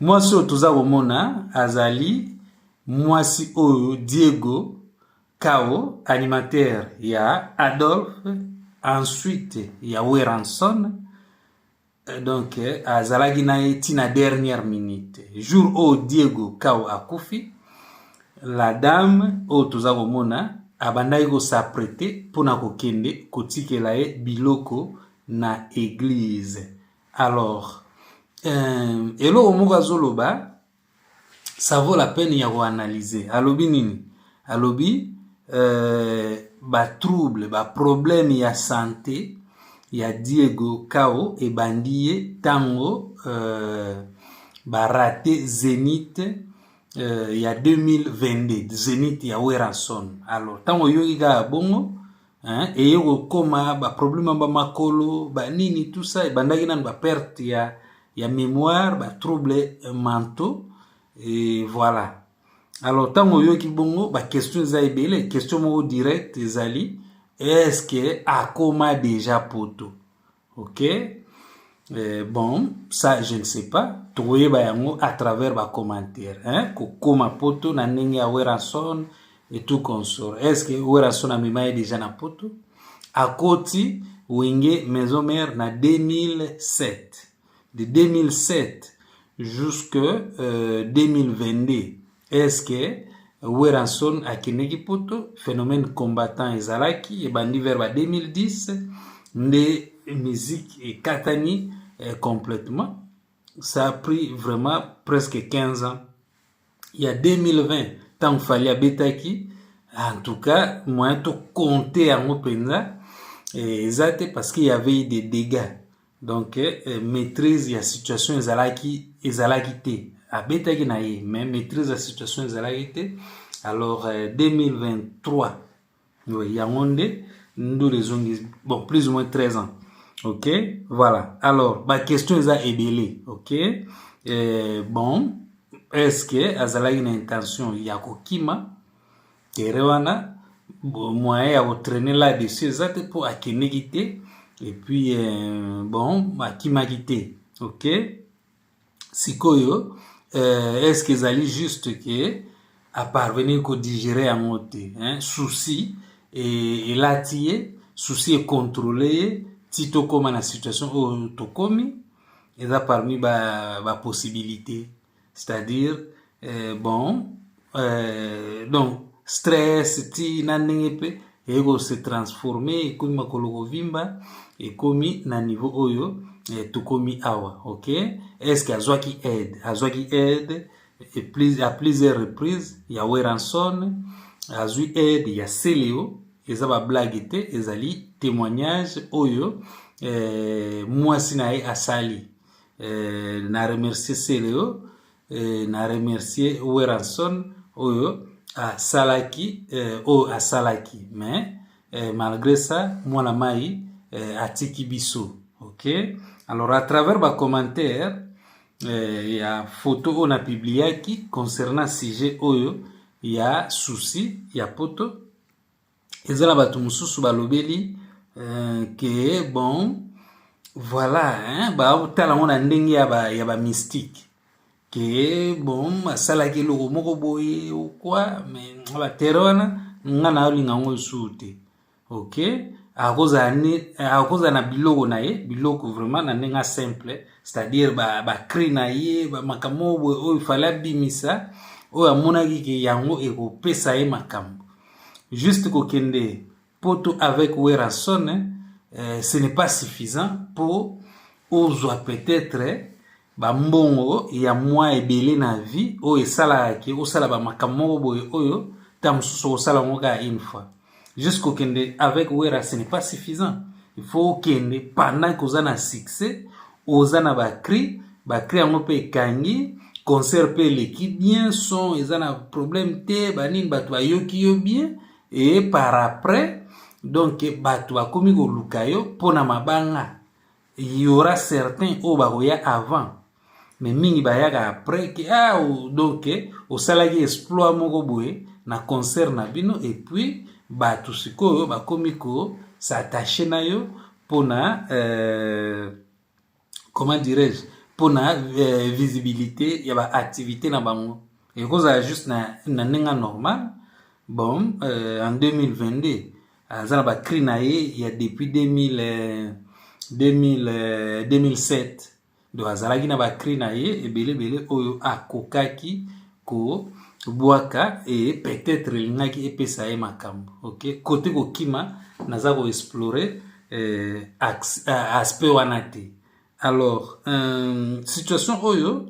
mwasi oyo toza komona azali mwasi oyo diego kao animateur ya adolphe ensuite ya weranson euh, donc euh, azalaki na ye ntina dernière minute jour oyo diego kao akufi la dame oyo toza komona abandaki kosaprete mpo na kokende kotikela ye biloko na eglize alors euh, eloko moko azoloba ça vaut la peine ya koanalyse alobi nini alobi euh, batrouble baproblème ya sante ya diego kao ebandi ye ntango euh, barate zenith euh, ya 2022 zenith ya weranson alors ntango oyoki kaka bongo hein, eye kokoma baproblème ya bamakolo banini tout ça ebandaki nanu baperte ya, ya mémoire batrouble mentaux e voilà alors ntango oyoki bongo baquestion eza ebele question moko direct ezali est ce que akoma déjà poto ok euh, bon ça je ne sais pas tokoyeba yango à travers bacommentaire hein? kokoma poto na ndenge ya werason et tout consort est ce que werason amema ye déjà na poto akoti wenge maison mère na 2007 de 2007 jusque euh, 2022 eske Werrason akendeki poto phénomène combattant ezalaki ebandi vers ba 2010 nde musique ekatani eh, complètement ça a pris vraiment presque 15 ans ya 2020 ntango fali abetaki en tout cas moyen tokonte yango mpenza eh, eza te parce qu'il y avait eu des dégâts donc eh, maîtrise ya situation ezalaki ezalaki te abetaki na ye mais maîtrise ya situation ezalaki te alors eh, 2023 oui, yango nde ndule ezongi bon plus ou moins 13 ans ok voilà alors baquestion eza ebele ok eh, bon est ce que azalaki na intention ya kokima tere wana moyen ya kotraine là dessus eza te mpo akendeki te epuis euh, bon akimaki te ok sikoyo euh, est ce que ezali juste ke aparvenir kodigere yango te souci elati ye souci ekontrole ye ti tokóma na situation oyo tokomi eza parmi bapossibilité ba c'est-à-dire eh, bon eh, donc stress ti na ndenge mpe eye kose transforme ekomi makolo kovimba ekomi na niveau oyo eh, tokomi awa ok estce azwaki aide azwaki aide à plusieurs reprises ya weranson azwi aide ya celeo eza bablage te ezali témoignage oyo eh, mwasi na ye asali eh, na remercier Celeo eh, na remercier Weranson oyo asalaki eh, oyo asalaki mais eh, malgré ça mwana mai eh, atiki biso ok alors à travers ba commentaire eh, ya photo oyo na publiaki concernant sujet oyo ya souci ya poto eza na bato mosusu balobeli euh, ke bon voilà baotala yango na ndenge ya bamystique ke bon asalaki eloko moko boye okwa me batere wana nga nayolinga yango esusu te ok akozala na biloko na ye biloko vraiment na ndenge simple c'est-à-dire bacri na ye makambo oyo fale abimisa oyo amonaki ke yango ekopesa ye makambo juste kokende poto avec werrason euh, ce n'est pas suffisant mpo ozwa peut-être bambongo ya mwa ebele na vie oyo esalaka ke osala bamakambo moko boye oyo ntango mosusu okosala yango kaka une fois juste kokende avec wera ce n'est pas suffisant il faut okende pendant koza na succès oza na ba cri ba cri yango mpe ekangi concert mpe eleki bien son eza na problème te banini bato bayoki yo bien e par après donc bato bakomi koluka yo mpo na mabanga yora certain oyo bakoya avant mais mingi bayaka après ke ah, donc osalaki exploit moko boye na concert na bino epuis bato sikoyo bakomi ko s'attache na yo pona euh, comment dirais-je pona euh, visibilité ya ba activité na bango ekozala juste na, na ndenge normal bon euh, en 2022 aza na bacri na ye ya depuis 2000, euh, 2000, euh, 2007 donc azalaki na bacri na ye ebelebele oyo akokaki kobwaka e peut-être elingaki epesa ye makambo ok kote kokima naza koexplore eh, aspect wana te alors euh, situation oyo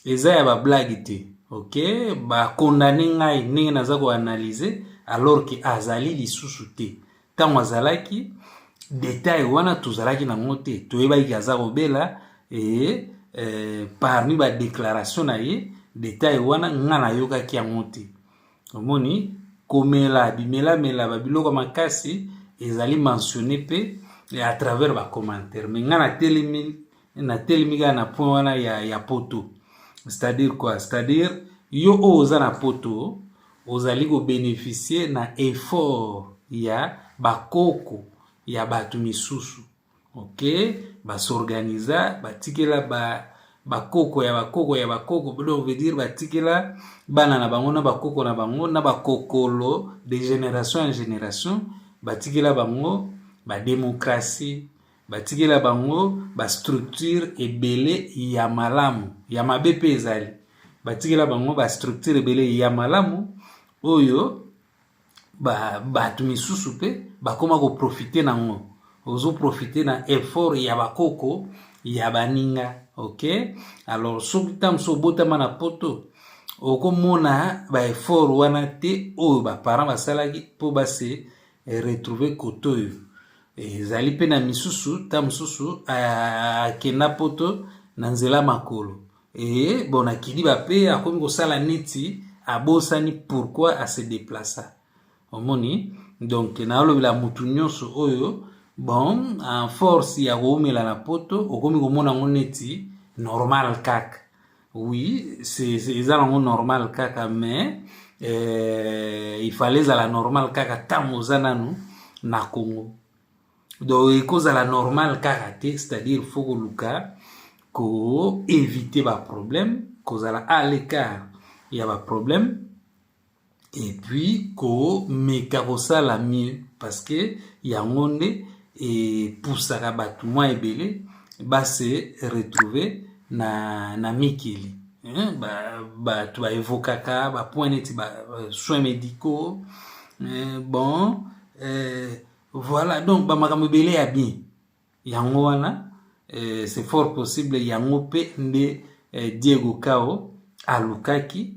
eza ya bablage te ok bakondane ngai ndenge naza koanalyse alors ke azali lisusu te ntango azalaki detail wana tozalaki na yango te toyebaki aza kobela e, e, parmi badeklaration na ye detail wana nga nayokaki yango te omoni komela bimelamela babiloko makasi ezali mentionne mpe à travers bacommentaire me nga natelemi natelemi kaka na point wana ya, ya poto c'est-à-dire quoi c'est-à-dire yo oyo oza na poto ozali kobeneficie na effort ya bakoko ya bato misusu ok basorganiza batikela ba bakoko ya bakoko ya bakoko donc veut dire batikela bana na bango na bakoko na bango na bakokolo de génération en génération batikela bango bademokratie batikela bango bastructure ebele ya malamu ya mabe mpe ezali batikela bango bastructure ebele ya malamu oyo bato misusu mpe bakoma koprofite na yango ozoprofite na effort ya bakoko ya baninga ok alors soki ntango mosusu obotama na poto okomona baeffort wana te oyo baparent basalaki mpo base retrouve kote oyo ezali mpe na misusu ntango mosusu akenda ah, poto na nzela makolo e bon akidi bape akomi kosala neti abosani pourquoi ase deplaça omoni donc nalobela motu nyonso oyo bon en force ya koumela na poto okomi komona yango neti normal kaka oui eza nango normal kaka mais eh, il fallait ezala normal kaka ntango oza nanu na congo donc ekozala normal kaka te c'est-à-dire fo koluka koevite baproblème kozala à l'écart ya baproblème et puis komeka kosala mieux parce que yango nde epusaka bato mwa ebele base retrouve na, na mikili bato ba baevokaka bapoint neti ba euh, soins médicaux euh, bon euh, voilà donc bamakambo ebele ya bien Yango wana eh, c'est fort possible yango pe nde eh, Diego Kao alukaki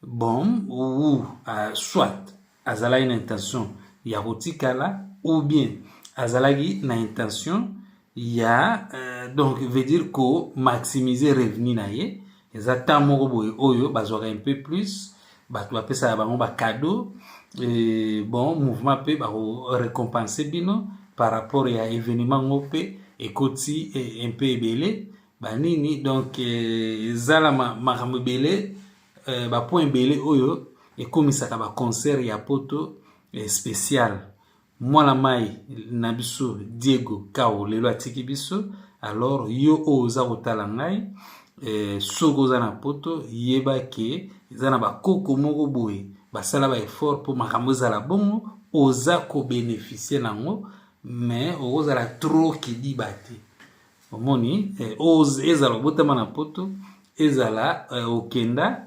bom ou uh, soit azalaki na intention ya kotikala ou bien azalaki na intention ya uh, donc veut dire ko maximiser revenu na ye eza temps moko boye oyo bazwaka un peu plus bato bapesaka bango bacadeau bon mouvement mpe bakorecompense bino par rapport ya événement ngo mpe ekoti un peu ebele banini donc ezala makambo ebele euh, bapoint ebele oyo ekomisaka baconcert ya poto eh, spéciale mwana mai na biso diego kao lelo atiki biso alors yo oyo oza kotala ngai eh, soki oza na poto yeba ke eza na bakoko moko boye basala baeffort mpo makambo ezala bongo oza kobenefisie na yango mais okozala trop kidiba te omoni eh, ezala obotama na poto ezala eh, okenda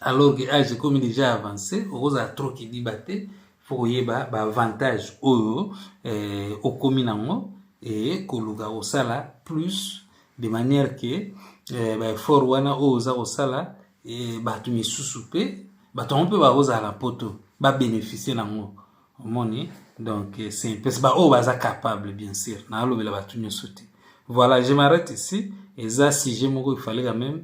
alors que age ekomi déjà avancé okozala trop kidiba te fo koyeba baavantage oyo eh, okomi nango e koluka kosala plus de manière ke eh, baeffort wana oyo oza kosala eh, bato misusu mpe bato yango mpe bakozala na poto babénéficie nango omoni donc eh, c'est mpese baoyo baza capable bien sûr naalobela bato nyonso te voilà je m'arrête ici eza sujet moko ifale quand même